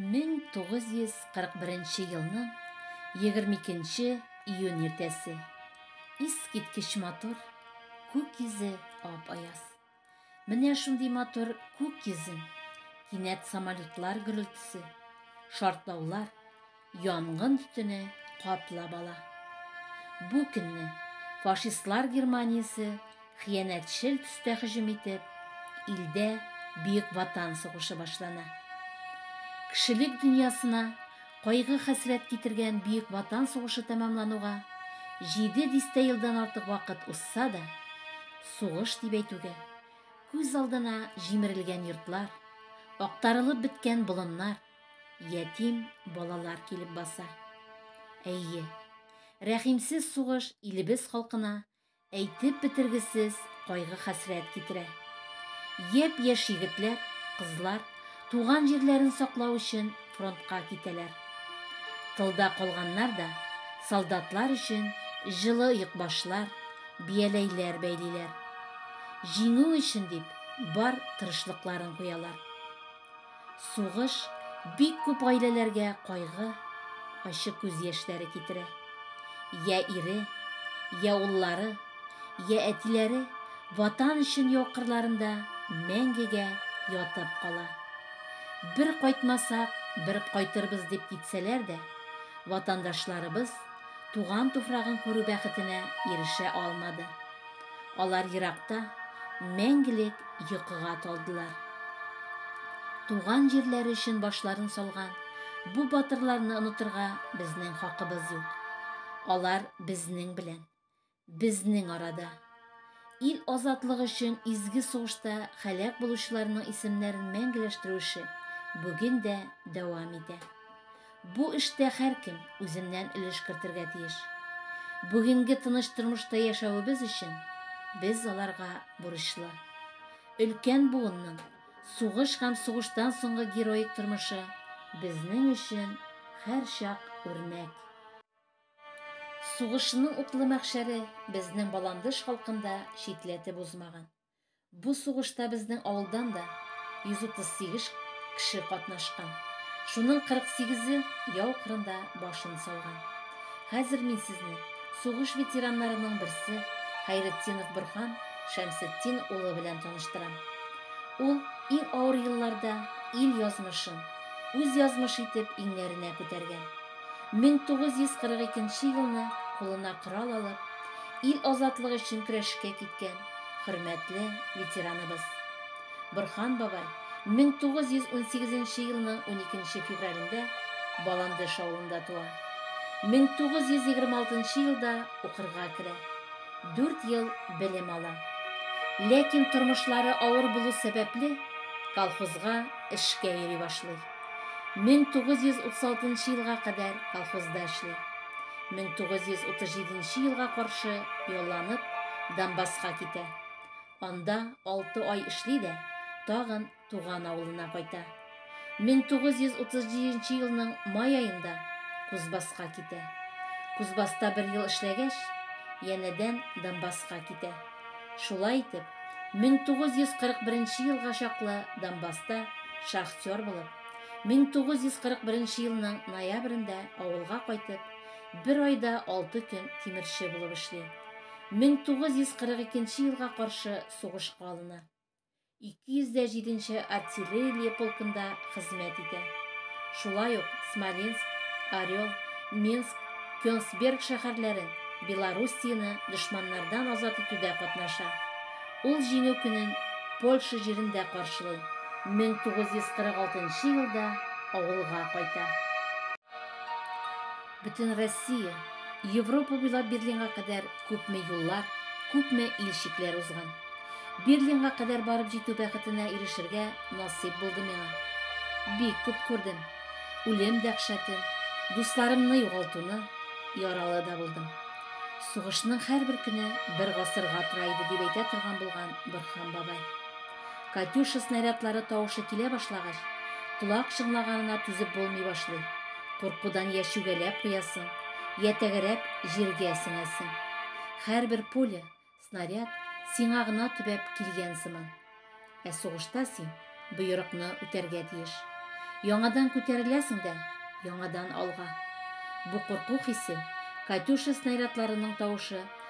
1941 елның 22 июнь иртәсе. Искиткеч матур, күк йөзе ап-аяз. Менә шундый матур күк йөзен кинәт самолетлар гөрелтесе, шартлаулар, Янгын төтене каплап ала. Бу көнне фашистлар Германиясе хыянәтчел төстә һөҗүм итеп, илдә Бөек Ватан сугышы башлана. Кешелек дөньясына кайгы-хәсрәт китергән Бөек Ватан сугышы тәмамлануга җиде дистә елдан артык вакыт узса да, сугыш дип әйтүгә, күз алдына җимерелгән йортлар, актарылып беткән болыннар, ятим балалар килеп баса. Әйе, рәхимсез сугыш илебез халкына әйтеп бетергесез кайгы-хәсрәт китерә. Япь-яшь егетләр, кызлар туган җирләрен саклау өчен фронтка китәләр. Тылда калганнар да солдатлар өчен җылы йөкбашлар, бияләйләр бәйлиләр. Җиңү өчен дип бар тырышлыкларын куялар. Сугыш бик күп гаиләләргә кайгы, ачы күз яшьләре китерә. Я ире, я уллары, я әтиләре ватан өчен яу кырларында мәңгегә ятып кала. Бер кайтмасак, бер кайтырбыз дип китсәләр дә, ватандашларыбыз туган туфрагын күрү бәхетенә ирешә алмады. Алар еракта мәңгелек йокыга талдылар. Туган җирләре өчен башларын салган бу батырларны онытырга безнең хакыбыз юк. Алар безнең белән, безнең арада. Ил азатлыгы өчен изге сугышта хәлак булучыларның исемнәрен мәңгеләштерү эше бүген дә дәвам итә. Бу эштә һәркем үзеннән өлеш кертергә тиеш. Бүгенге тыныч тормышта яшәвебез өчен без аларга бурычлы. Өлкән буынның сугыш һәм сугыштан соңгы героик тормышы безнең өчен һәрчак үрнәк. Сугышның утлы мәхшәре безнең баландыш халкын да читләтеп узмаган. Бу сугышта безнең авылдан да 138 кеше катнашкан. Шуның 48-е яу кырында башын салган. Хәзер мин сезне сугыш ветераннарының берсе Хәйретдинов Борһан Шәмсетдин улы белән таныштырам. Ул иң авыр елларда ил язмышын үз язмышы итеп иңнәренә күтәргән. 1942 елны кулына корал алып, ил азатлыгы өчен көрәшкә киткән хөрмәтле ветераныбыз. Борхан бабай 1918 елның 12 февралендә Баландыш авылында туа. 1926 елда укырга керә. Дүрт ел белем ала. Ләкин тормышлары авыр булу сәбәпле, колхозга эшкә йөри башлый. 1936 нчы елга кадәр колхозда эшли. 1937 елга каршы ялланып, Донбасска китә. Анда алты ай эшли дә, тагын туган авылына кайта. 1937 елның май аенда Кузбасска китә. Кузбасста бер ел эшләгәч, янәдән Донбасска китә. Шулай итеп, 1941 елга чаклы Донбасста шахтер булып, 1941 елның ноябрендә авылга кайтып, бер айда алты көн тимерче булып эшли. 1942 елга каршы сугышка алына. 207 нче артиллерия полкында хезмәт итә. Шулай ук Смоленск, Орел, Минск, Кёнсберг шәһәрләрен, Белоруссияне дошманнардан азат итүдә катнаша. Ул Җиңү көнен Польша җирендә каршылый, 1946 елда авылга кайта. Бөтенроссия, Европа буйлап Берлинга кадәр күпме юллар, күпме ил чикләр узган. Берлинга кадәр барып җитү бәхетенә ирешергә насыйп булды миңа. Бик күп күрдем. Үлем дәһшәтен, дусларымны югалтуны, яралы да булдым. Сугышның һәрбер көне бер гасырга тора иде, дип әйтә торган булган Борһан бабай. Катюша снарядлары тавышы килә башлагач, колак чыңлаганына түзеп булмый башлый. Куркудан йә чүгәләп куясың, йә тәгәрәп, җиргә сеңәсең. Һәрбер пуля, снаряд сиңа гына төбәп килгән сыман. Ә сугышта син боерыкны үтәргә тиеш. Яңадан күтәреләсең дә, яңадан алга. Бу курку хисе, Катюша снарядларының тавышы,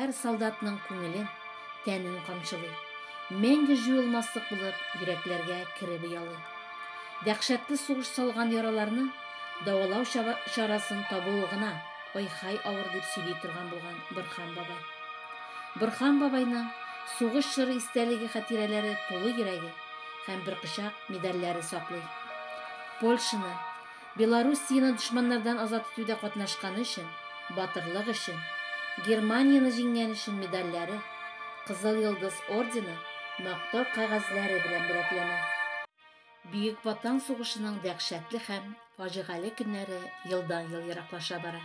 Хәр солдатның күңелен, тәнен камчылый. Мәңге җуелмаслык булып йөрәкләргә кереп оялый. Дәхшәтле сугыш салган яраларны давалау чарасын табуы гына ой-хай авыр дип сөйли торган булган Борхан бабай. Борхан бабайның сугыш чоры истәлеге хатирәләре тулы йөрәге һәм бер кочак медальләре саклый. Польшаны, Белоруссияне дошманнардан азат итүдә катнашканы өчен, Батырлык өчен, Германияне җиңгән өчен медальләре, Кызыл Йолдыз ордены, Мактау кәгазьләре белән бүләкләнә. Бөек Ватан сугышының дәһшәтле һәм фаҗигале көннәре елдан-ел ераклаша бара.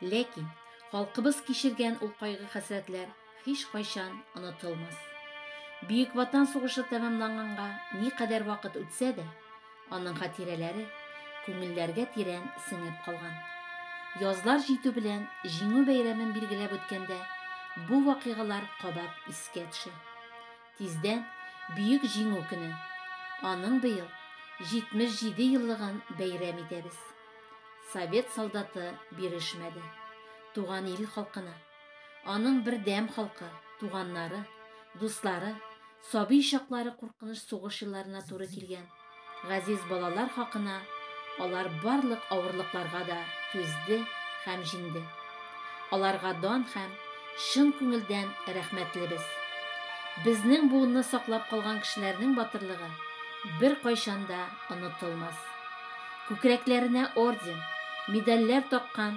Ләкин халкыбыз кичергән ул кайгы-хәсрәтләр Һичкайчан онытылмас. Бөек Ватан сугышы тәмамланганга никадәр вакыт үтсә дә, аның хатирәләре күңелләргә тирән сеңеп калган. Язлар җитү белән Җиңү бәйрәмен билгеләп үткәндә, бу вакыйгалар кабат искә төшә. Тиздән Бөек Җиңү көне. Аның быел 77 еллыгын бәйрәм итәбез. Совет солдаты бирешмәде. Туган ил халкына. Аның бердәм халкы, туганнары, дуслары, сабый чаклары куркыныч сугыш елларына туры килгән. Газиз балалар хакына алар барлык авырлыкларга да түзде һәм җиңде. Аларга дан һәм чын күңелдән рәхмәтлебез. Безнең буынны саклап калган кешеләрнең батырлыгы беркайчан да онытылмас. Күкрәкләренә орден, медальләр таккан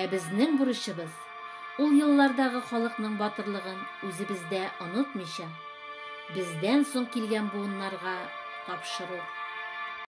Ә безнең бурычыбыз, ул еллардагы халыкның батырлыгын үзебездә онытмыйча, бездән соң килгән буыннарга тапшыру.